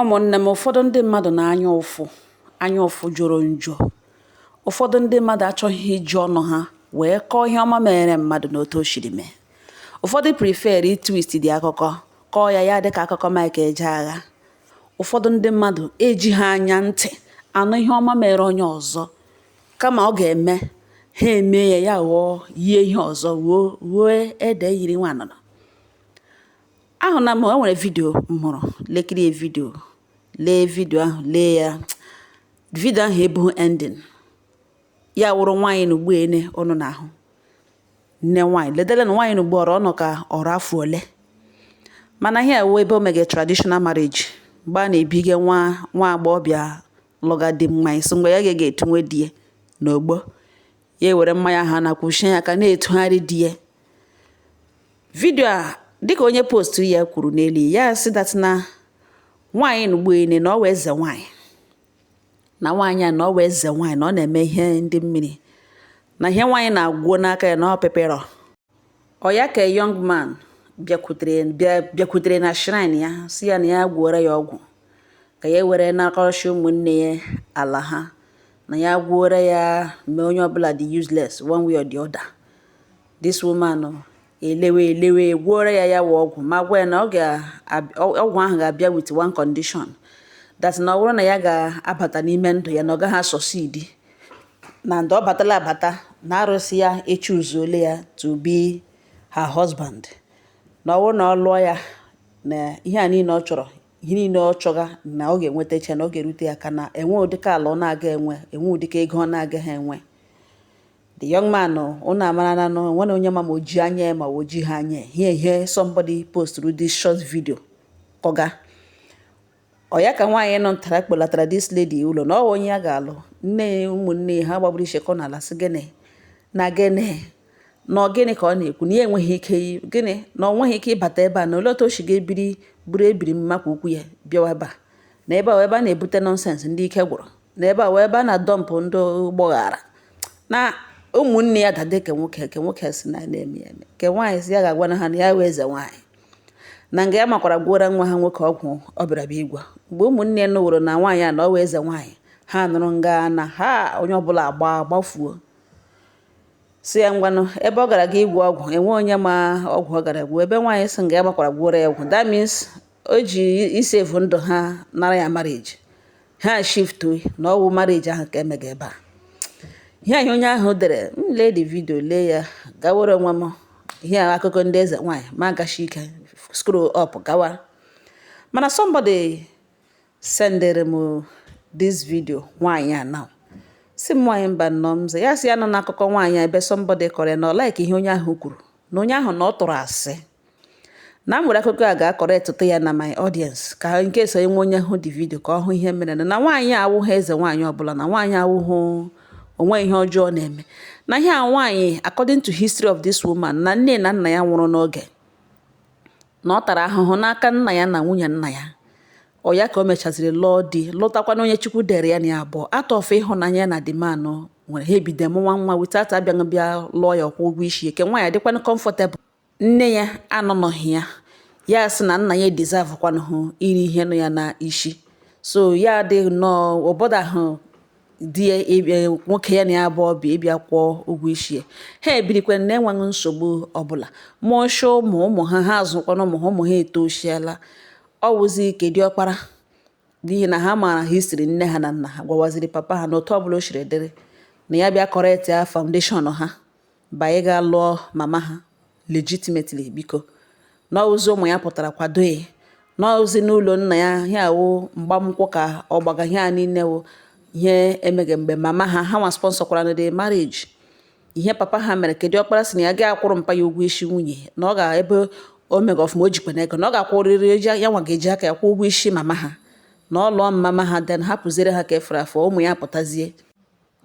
Ụmụnne m, ụfọdụ ndị mmadụ na anya ụfụ, anya ụfụ jọrọ njọ. Ụfọdụ ndị mmadụ achọghị iji ọnụ ha wee kọọ ihe ọma mere mmadụ na otu o siri mee. Ụfọdụ prefer ịtwisti akụkọ kọọ ya ya dị ka akụkọ Mike Ejeagha. Ụfọdụ ndị mmadụ ejighị anya ntị anụ ihe ọma mere onye ọzọ kama ọ ga-eme ha eme ya ya ghọọ yie ihe ọzọ ruo ruo ede yiri nwa anụnụ. ahụna m o nwere vidio m hụrụ lekiri ya vidio lee vidio ahụ lee ya vidio ahụ ebughị ending ya wụrụ nwaanyị na ugbu ene ụnụ na-ahụ nne nwaanyị ledere na nwaanyị na ugbu ọrụ ọnụ ka ọrụ afọ ole mana ihe a wụ ebe o mege traditional marriage mgbe a na-ebiga nwa nwa agbọghọbịa lụga di mmanya sị mgbe ya ga-etunwe di ya n'ogbo ya ewere mmanya ahụ na kwuchie ya aka na-etugharị di ya vidio a dịka onye postu ya kwuru n'elu ya si that na nwaanyị nugbuene na ọ wụ eze nwaanyị na nwaanyị a na ọ wụ eze nwaanyị na ọ na-eme ihe ndị mmiri na ihe nwaanyị na-agwuo n'aka ya na ọ pịpịrọ Ọ ya ka young man bịakwutere bịa- bịakwutere na shrine ya si ya na ya gwuora ya ọgwụ ka ya were nakọrọchi ụmụnne ya ala ha na ya gwuora ya mee onye ọbụla dị useless one way or the other this woman o, elewe elewe gwuora ya ya wụ ọgwụ ma gwa ya na ọ ga- ab- ọ- ọgwụ ahụ ga-abịa with one condition that na ọ bụrụ na ya ga-abata n'ime ndụ ya na ọ gaghị asucceed na ndụ ọ batala abata na arụsị ya echuzuole ya to be her husband na ọwụ na ọ lụọ ya na ihe a niile ọ chọrọ ihe niile ọ chọga na ọ ga-enwetacha na ọ ga-erute ya aka na enwe ụdịka ala ọ na-aga enwe enwe ụdịka ego ọ na-agaghị enwe the young man ụnụ amara na enwe onye ma ma o ji anya ma o jighị anya ihe ihe somebody posturu this short video kọga ọ ya ka nwaanyị nọ ntara kpọlatara this lady ụlọ na ọ onye ya ga-alụ nne ya ụmụnne ya ha gbagburu ichekọ n'ala sị gịnị na gịnị na ọ gịnị ka ọ na-ekwu na ya enweghị ike gịnị na ọ nweghị ike ịbata ebe a na olee otu o si ga-ebiri buru ebiri mma ka ukwu ya bịawa ebe a na ebe a ebe a na-ebute nonsense ndị ike gwụrụ na ebe a wụ ebe a na-adump ndị ụgbọ ghara na ụmụnne ya dada ke nwoke ke nwoke si na na-eme eme ke nwaanyị si ya ga-agwa na ha na ya wụ eze nwaanyị na nga ya makwara gwọra nwa ha nwoke ọgwụ ọ bịara bịa ịgwọ mgbe ụmụnne ya nụworo na nwaanyị a na ọ wụ eze nwaanyị ha nụrụ nga na ha onye ọbụla agba gbafuo si ya ngwanụ ebe ọ gara ga ịgwọ ọgwụ enwe onye ma ọgwụ ọ gara gwuo ebe nwaanyị si nga ya makwara gwọra ya ọgwụ that means o ji ịsave ndụ ha nara ya marriage ha shị na ọ wụ marriage ahụ ka emega ebe a ihe ahụ onye ahụ dere m lee the video lee ya gawere onwe m ihe akụkọ ndị eze nwaanyị m agashi ike scroll up gawa mana somebody sendere m this video nwaanyị a now sị m nwaanyị mba nnọọ m ya sị ya nọ n'akụkọ nwaanyị ebe somebody kọrọ ya na ọ like ihe onye ahụ kwuru na onye ahụ na ọ tụrụ asị na m were akụkọ a ga kọọrọ ya na my audience ka in case enwe onye hụ the video ka ọ hụ ihe mere na nwaanyị awụghị eze nwaanyị ọbụla na nwaanyị awụghị o nwe ihe ọjọọ na-eme na ihe a nwaanyị according to history of this woman na nne na nna ya nwụrụ n'oge na ọ tara ahụhụ n'aka nna ya na nwunye nna ya ọ ya ka o mechaziri lụọ di lụtakwana onye chukwu dere ya na ya abụọ out of ịhụnanya na dimanụ nwere ha ebido mụwa nwa without abịaghị bịa lụọ ya or kwụọ ụgwọ isi ya ke nwaanyị adịkwana comfortable Nne ya anọnọghị ya. Ya sị na nna ya deserve kwanụhụ iri ihe nọ ya na isi. So ya adịghị nnọọ ọ bọdahụ di ya ịbịa nwoke ya na ya abụọ bi ịbịa kwụọ ụgwọ isi ya. Ha ebirikwa n'enweghị nsogbu ọbụla. Mụọcha ụmụ ụmụ ha ha azụkwana ụmụ ha ụmụ ha etosiela. Ọ wụzi ke diọkpara n'ihi na ha maara history nne ha na nna ha gwawaziri papa ha na otu ọbụla o siri dịrị na ya bịa correct ya foundation ha. By ịga lụọ mama ha legitimately biko. Na ọ wụzi ụmụ ya pụtara kwado ya. Na ọ wụzi n'ụlọ nna ya ihe a wụ mgbamnkwụ ka ọ gbaga ihe a niile wụ ihe emega ebe mama ha ha nwa sponsor kwara na the marriage. Ihe papa ha mere ke diọkpara sị na ya agaghị akwụrụ mpa ya ụgwọ isi nwunye na ọ ga ebe o mega ọfụma o jikwana ego na ọ ga-akwụrịrị ya nwa ga-eji aka ya kwụ ụgwọ isi mama ha na ọ lụọ mama ha then hapụziere ha ke fọrọ afọ ụmụ ya pụtazie.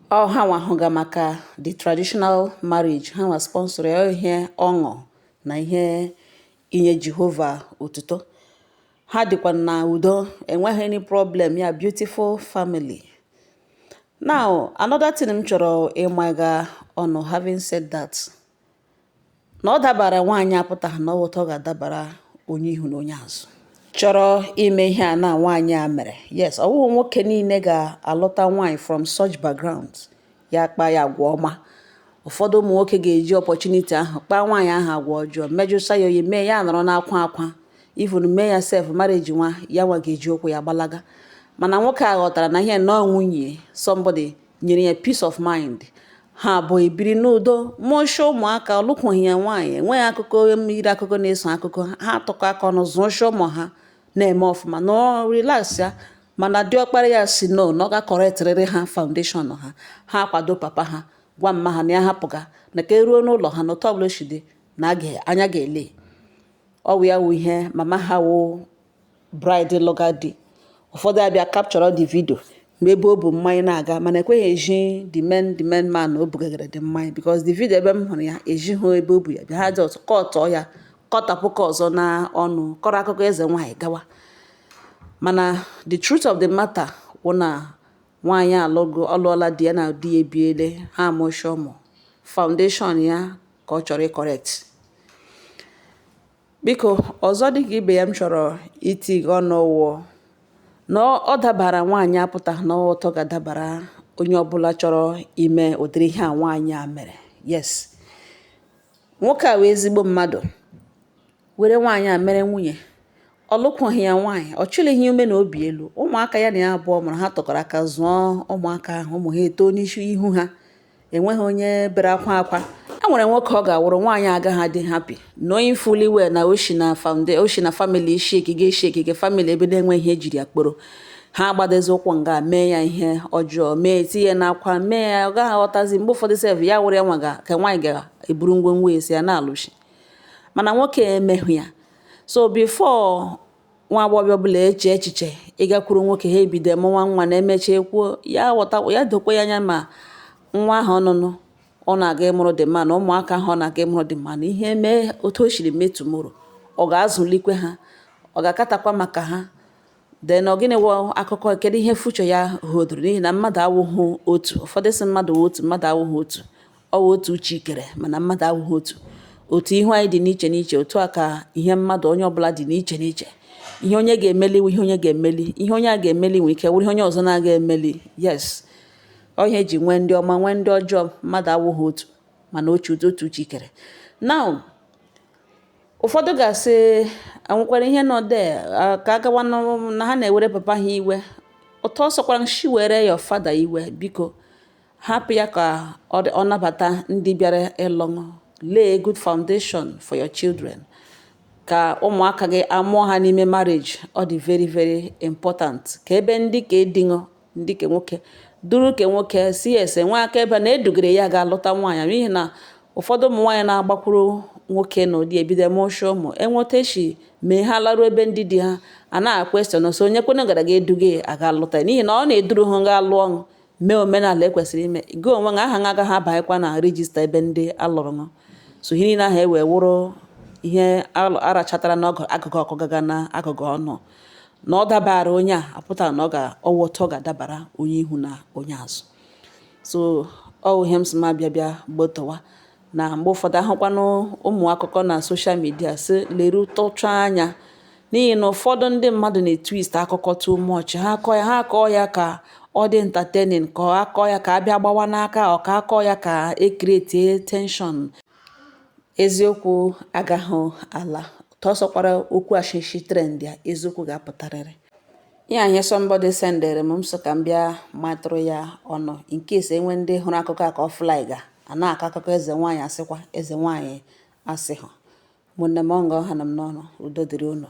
Ọ ha nwa hụga maka the traditional marriage, ha nwa sponsor ya, ọ ihe ọṅụ na ihe inye Jehova otuto. Ha dịkwa na udo, enweghị any problem, ya beautiful family. Now, another thing m chọrọ ịmaga ọnụ, having said that, na ọ dabara nwaanyị a apụtaghị na ọ otu ọ ga-adabara onye ihu na onye azụ chọrọ ime ihe a na nwaanyị a mere yes ọ wụghị nwoke niile ga-alụta nwaanyị from such background ya kpaa ya agwa ọma ụfọdụ ụmụ nwoke ga-eji opportunity ahụ kpaa nwaanyị ahụ agwa ọjọọ mejụsa ya oyi mee ya nọrọ n'akwa akwa even mee ya sef marriage nwa ya nwa ga-eji ụkwụ ya gbalaga mana nwoke a ghọtara na ihe nọọ nwunye somebody nyere ya peace of mind Ha abụọ ebiri n'udo, mụọcha ụmụaka, ọ lụkwughị ya nwaanyị, enweghị akụkọ yiri akụkọ na-eso akụkọ ha. Ha atụkọ aka ọnụ zụọcha ụmụ ha na-eme ọfụma na relax ya mana diọkpara ya sị no na ọ ga-correctrịrị ha foundation ha. Ha akwado papa ha gwa mma ha na ya hapụga na ka eruo n'ụlọ ha na otu ọbụla o si dị na anya ga-ele. Ọ wụ ya wụ ihe mama ha wụ Bride lụga di. Ụfọdụ abịa capture the video ma ebe o bu mmanya na-aga mana ekweghị eji the main the main man o bugagara the mmanya because the video ebe m hụrụ ya ejighị ebe o bu ya bịa ha just kọtọọ ya kọtapụ ka ọzọ na ọnụ kọrọ akụkọ eze nwaanyị gawa mana the truth of the matter wụ na nwaanyị alụgo alụọla di ya na di ya ebiele ha amụcha ụmụ foundation ya ka ọ chọrọ ịcorrect Biko, ọzọ dị ka ibe ya m chọrọ itinye ọnụ wụ na ọ dabara nwaanyị a apụtaghị na ọ otu ọ ga-adabara onye ọbụla chọrọ ime ụdịrị ihe a nwaanyị a mere yes nwoke a wụ ezigbo mmadụ were nwaanyị a mere nwunye ọ lụkwughị ya nwaanyị ọ chịlighị ume na obi elu ụmụaka ya na ya abụọ mụrụ ha tụkọrọ aka zụọ ụmụaka ahụ ụmụ ha eto n'isi ihu ha enweghị onye bere akwa akwa e nwere nwoke ọ ga-awụrụ nwaanyị agaghị adị happy knowing fully well na o shi na fam o shi na family shaky shaky family ebe na-enweghị ihe ejiri ya kpọrọ ha agbadozi ụkwụ nga mee ya ihe ọjọọ mee tinye n'akwa mee ya ọ gaghị aghọtazi mgbe ụfọdụ sef ya wụrụ ya nwa ga ka nwaanyị ga-eburu ngwongwo esi ya na-alụshi mana nwoke emeghị ya so before nwa agbọghọbịa ọbụla eche echiche ịgakwuru nwoke ha ebido mụwa nwa na emecha ekwuo ya ghọta ya dokwa ya anya ma nwa ahụ ọnụnụ ọ na-aga ịmụrụ dị mma na ụmụaka ahụ ọ na-aga ịmụrụ dị mma na ihe mee otu o siri mee tomorrow ọ ga-azụlikwe ha ọ ga-acaterkwa maka ha then ọ gịnị wụ akụkọ kedu ihe future ya holdoro n'ihi na mmadụ awụghị otu ụfọdụ sị mmadụ wụ otu mmadụ awụghị otu Ọ wụ otu Chi kere mana mmadụ awụghị otu. Otu ihu anyị dị n'iche n'iche, otu a ka ihe mmadụ onye ọbụla dị n'iche n'iche. Ihe onye ga-emeli wụ ihe onye ga-emeli. Ihe onye a ga-emeli nwere ike wụrụ ihe onye ọzọ na-agaghị emeli. Yes. Ọ ihe eji nwee ndị ọma nwee ndị ọjọọ mmadụ awụghị otu mana otu otu Chi kere. Now ụfọdụ ga-asị enwekwara ihe nọ there ka a gawa na ha na-ewere papa ha iwe. Otu ọ sọkwara i shi were your father iwe biko. Hapụ ya ka ọ nabata ndị bịara ịlụ lay a good foundation for your children ka ụmụaka gị amụọ ha n'ime marriage ọ dị very very important ka ebe ndị ka edinụ ndị ke nwoke duru ke nwoke si ese nwa aka ebe na edugere ya ga-alụta nwaanyị n'ihi na ụfọdụ ụmụ nwaanyị na-agbakwuru nwoke na ụdị ebido mụcha ụmụ enweta echi mee ha laruo ebe ndị di ha a na-aquestion na so onye kwene gara ga eduga ya aga lụta n'ihi na ọ na-eduru ha ga lụọ gị mee omenala ekwesịrị ime gị onwe gị aha gị agaghị abanyekwa na register ebe ndị alụrụ gị so ihe niile ahụ ewee wụrụ ihe arachatara n'agụga ọkụ ga-aga n'agụga ọnụ na ọ dabara onye a apụtaghị na ọ wụ otu ọ ga-adabara onye ihu na onye azụ so ọ ihe m sị ma bịa bịa gbotowa na mgbe ụfọdụ ahụkwanụ ụmụ akụkọ na soshal midia sị lerutụcha anya n'ihi na ụfọdụ ndị mmadụ na-etwist akụkọ too much ha akọọ ya ka ọ dị entertaining ka ọ akọọ ya ka a bịa gbawa n'aka ọ ka akọọ ya ka ekretie tension eziokwu agaghị alata ọ sọkwara okwu ashishi trendia eziokwu ga-apụtarịrị ya ihe somebody sendere m m so ka m bịa matụrụ ya ọnụ in case e nwee ndị hụrụ akụkọ a ka ọ flaiga a na-akọ akụkọ eze nwaanyị asịkwa eze nwaanyị asịhụ ụmụnne m ọ nga ọ hanụ m n'ọnụ udo dịrị unu